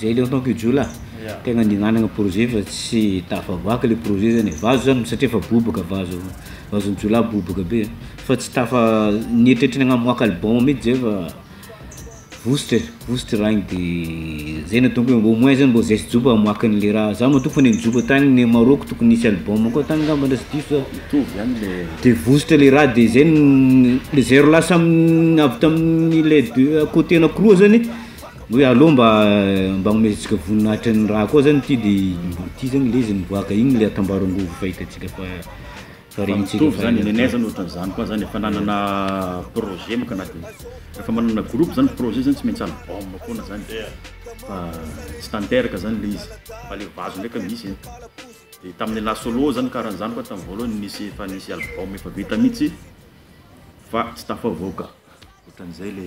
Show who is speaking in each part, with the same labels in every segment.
Speaker 1: Zay ilay ataoko io jiolahy a, tegna nihinanagna projet fa tsy tafavoaka le projet zany e, vazo zany satria efa bobaka vazo, vazon'ny jiolahy bobaka be e, fa tsy tafa, nieritreritry ny hagnamoaka album mitsy zay fa vositra e, vositra raha igny de zay no ataoko hoe au moins zany mbô zay sy joba hamoaka an'le raha, za matoa efa nijoba tagny Maroc tokony nisy album koa tagny ngamba na sy diso za,
Speaker 2: de vositra le raha
Speaker 1: de zay no, le zero lasa avy tamin'ny le deux côté anakiroa zany. Hoe alou mba mba omezintsika voninahitra ny raha koa zany ty de mba ty zany le izy miboaka igny le atambaro angovo fahitantsika fa fa rehintsika Mitovy fa zany nenay zany
Speaker 2: ohatran'izany koa zany efa nanana projet manko na de rehefa manana groupe zany projet zany tsy maintsy album foana zany fa tsy tanteraka zany le izy fa le vazo ndraika misy e de tamin'ny la solo zany karaha an'izany koa tamin'ny voalohany nisy efa nisy album efa vita mihitsy fa tsy tafavoaka ohatran'izay le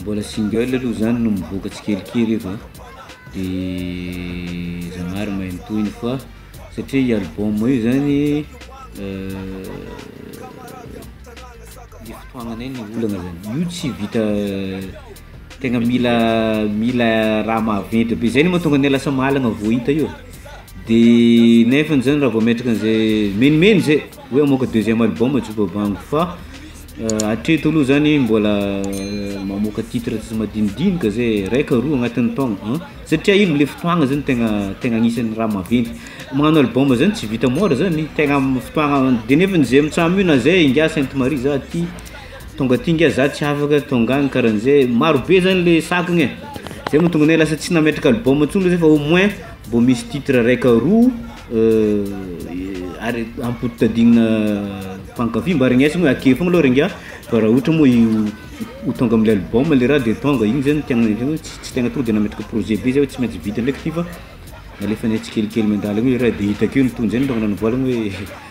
Speaker 1: Mbola single aloha zany no mivoaka tsikelikely eto an, de Zanahary mahay mitohina fa satria i album io zany le fotoagnanay no olana zany, io tsy vita tegna mila mila raha maventy be zay no mahatonga anay lasa mahalagna vao hita io, de nefany zany raha vao metraka an'izay menomeno zay hoe hamoaka deuxième album Joba Bango fa Hatreto aloha zany mbola mamoaka titre tsy madinidinika zay raika roa agnatin'ny taogno an, satria ino le fotoagna zany tegna tegna agnisan'ny raha maventy, magnano album zany tsy vita môra zany, tegna amin'ny fotoagna de nefany zay mitsam io na zay ingahy sainte marie za ty tonga aty ngiahy za tsy afaka tonga agny karahan'zay, marobe zany le sakagna e, zay mahatonga anay lasa tsy nametraka album ntsony zay fa au moins mbô misy titre raika roa. ary ampodimpodinina mpankafy mba regneso hoe ake foagna aloha r'ingahy fa raha ohatra moa io ho tonga amin'ilay album le raha de tonga igny zany tegna ny hoe ts- tsy tegna tonga de nametraka projet be zay hoe tsy maintsy vita ndraiky ty fa nalefanay tsikelikely mandalo eo le raha de hitako eo ny tohiny zay no tonga nanamboaragna hoe.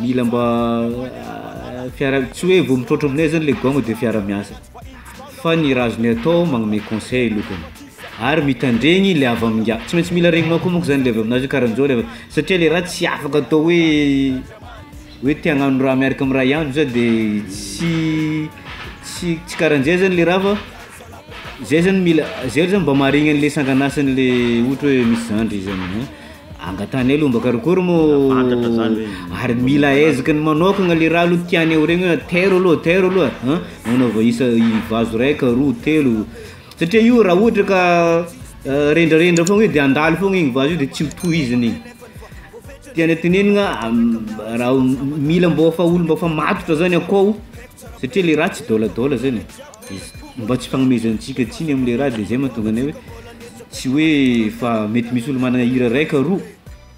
Speaker 1: mila mba fiara- tsy hoe vao mitrôtra aminay zany le gaoma de fiara miasa fa ny raha azonay atao magnome conseil aloha zany ary mitandregny le avy amin'ingahy, tsy maintsy mila regninao koa manko zany le avy aminazy hoe karanjao le avy satria le raha tsy afaka atao hoe hoe te hagnano raha miaraka amin'ny raha hiandry zah de tsy tsy tsy karanjay zany le raha fa zay zany mila zay zany mba maharegny an'le sangan'asan'le ohatra hoe misy zandry zany an. Angatany aloha mba karokory mo ary mila eziky ny manokagna le raha aloha tiany ho regny hoe tairo aloha tairo aloha a manaova isa vazo raika roa telo satria io raha ohatra ka rendrarendra fogna io de handalo fogna igny vazo io de tsy ho tohizigny igny tiana tenenigna raha mila mbô efa olo mbô efa matotra zany akao satria le raha tsy dôladôla zany e. Mba tsy fagnomezantsika tsiny amle raha de zay mahatonga anay hoe tsy hoe fa mety misy olo managna hira ray ka roa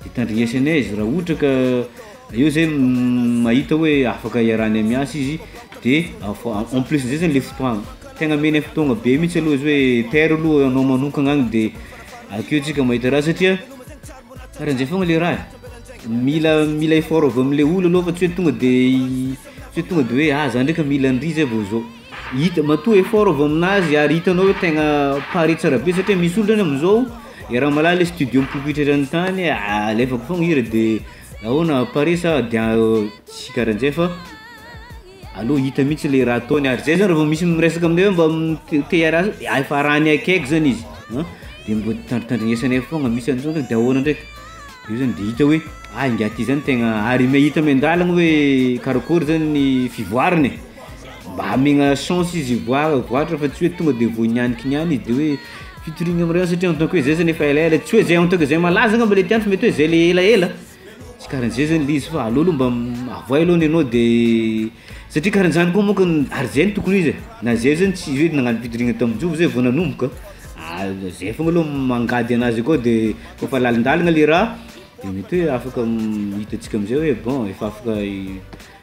Speaker 1: de tandrignesy anay izy raha ohatra ka eo zay mahita hoe afaka iarahanay miasa izy de afa- en plus zay zany le fotoagna tegna amenay fotoagna be mintsy aloha izy hoe paire aloha anao manonkagna agny de akeo tsika mahita raha satria karahan'zay foagna le raha e, mila mila effort avy amle olo aloha fa tsy hoe tonga de. Tsy tonga de hoe ah za ndraika mila an'ry zay vao zao, hita matoa effort avy amin'azy ary hitanao hoe tegna pare tsara be satria misy olo zany am'zao i Ramalà le studio mipopoitra eran'ny tany ah alefako foagna hira de ahoana ah pare sa dia tsy karahan'jay fa aleo hita mihitsy le raha ataony ary zay zany raha vao misy miresaka aminay hoe mba te- te hiaraha efa raha ny akaiky zany izy an de mba tandritandrinesanay foagna misy an'zao ndraiky de ahoana ndraiky. Io zany dia hita hoe ah ingahy ity zany tegna ary me- hita miandalana hoe karakory zany ny fivoarany e, mba amegna chance izy hivoaha hivoàtra fa tsy hoe tonga de vao hinianiky niany izy de hoe fitoriagna am' reo satria en tant que hoe zay zany efa elaela, tsy hoe zay en tant que zay malaza angamba le tiany fa mety hoe zay le elaela, tsy karaha an'zay zany le izy fa aleo aloha mba avoay aloha ny anao de. Satria karaha zany koa manko ny ary zay no tokony ho izy e, na zay zany tsy hoe nagnano fidirana tamin-jovy zay vao nanomboka a, de zay fogna aloha mangady anazy akao de kô fa lalindalina le raha de mety hoe afaka hitantsika amizay hoe bon efa afaka hi-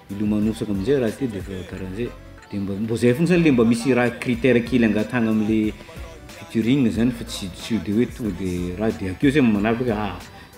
Speaker 1: hilomanosaka amizay raha ty de efa karaha zay, de mba mbô zay fogna zany le mba misy raha critère kely angatahana amle featuring zany fa tsy tsy de hoe tonga de raha de akeo zay manaraka hoe ah.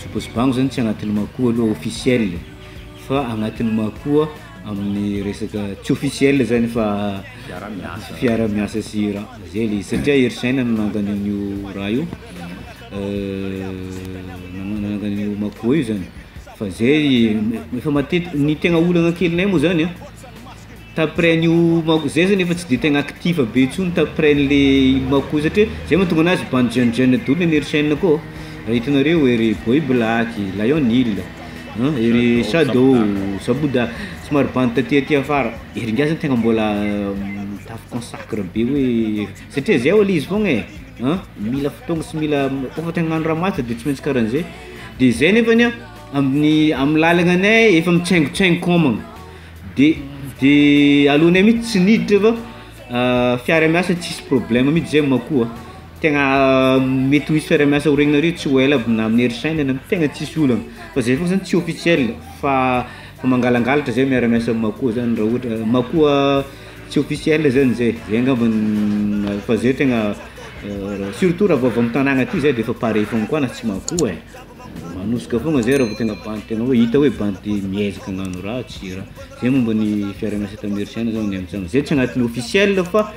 Speaker 1: Jobo sy bango zany tsy agnatin'ny makoa aloha officiel fa agnatin'ny makoa amin'ny resaka tsy officiel zany fa fiarahamiasa sy raha zay le izy satria Hery Saina no nangany an'io raha io nangany an'io makoa io zany fa zay efa matetiky ny tegna olagna kelinay moa zany a T'apprend io manko zay zany efa tsy de tegna actif be intsony t'apprend le ino manko io satria zay mahatonga anazy bande jeune jeune doly ny an'ery chaine koa raha hitanareo ery boy black, lion hill, an ery shadow, saboda somary bande taty aty afara ery ngiahy zany tegna mbola mitafy consacre be hoe satria zay hono izy foagna e an mila fotoagna sy mila koa fa te hagnano raha mafy de tsy maintsy karahan'zay de zay nefany a amin'ny amin'ny lalagnanay efa mitsaingotsaingo kômagna. de de alohanay mitsy tsy niditra fa fiara miasa tsisy problème mitsy zay ma koa tegna mety ho hisy fiara miasa ho regnareo tsy ho ela aby na amin'ny hery saina na am- tegna tsisy olana fa zay koa zany tsy officiel fa fa mangalangalatra zay miara miasa am- makoa zany raha ohatra makoa tsy officiel zany zay zay angamba ny fa zay tegna surtout raha vao avy am- tagnana aty zay de efa pare foagna koa na tsy makoa e. Manosoka fogna zay raha vao tena bandy tena hoe hita hoe bandy miezaka hagnano ratsy ra- zay momba ny fiahiranà site américain zao ny amintsika zay tsy agnatin'ny officiel fa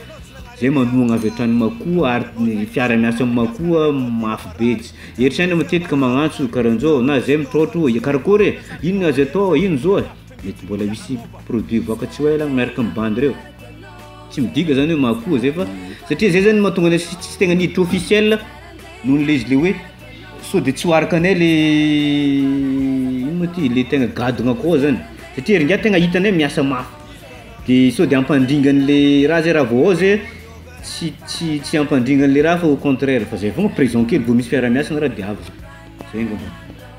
Speaker 1: zay manohagna avy hatrany makoa ary ny fiara miasa am'makoa mafy be ts- ery saina matetika magnantso karahan'zao na zay mitraotra hoe karakôry e, ino no azo atao e, ino zao e? mety mbôla misy produit hivoaka tsy ho ela agny miaraka am'bandy reo, tsy midika zany hoe makoa zay fa satria zay zany mahatonga anay s- tsy tegna miditra officiel noho le izy le hoe. Sao de tsy ho araka anay le ino moa ty le tegna gadona koa zany satria ery ngiahy tegna hitanay miasa mafy de sao de hampandringa an'le raha zay raha vao ao zay tsy tsy tsy hampandringa an'le raha fa au contraire fa zay foagna present kely vao misy fiaraha-miasa na raha de avy zay angambany.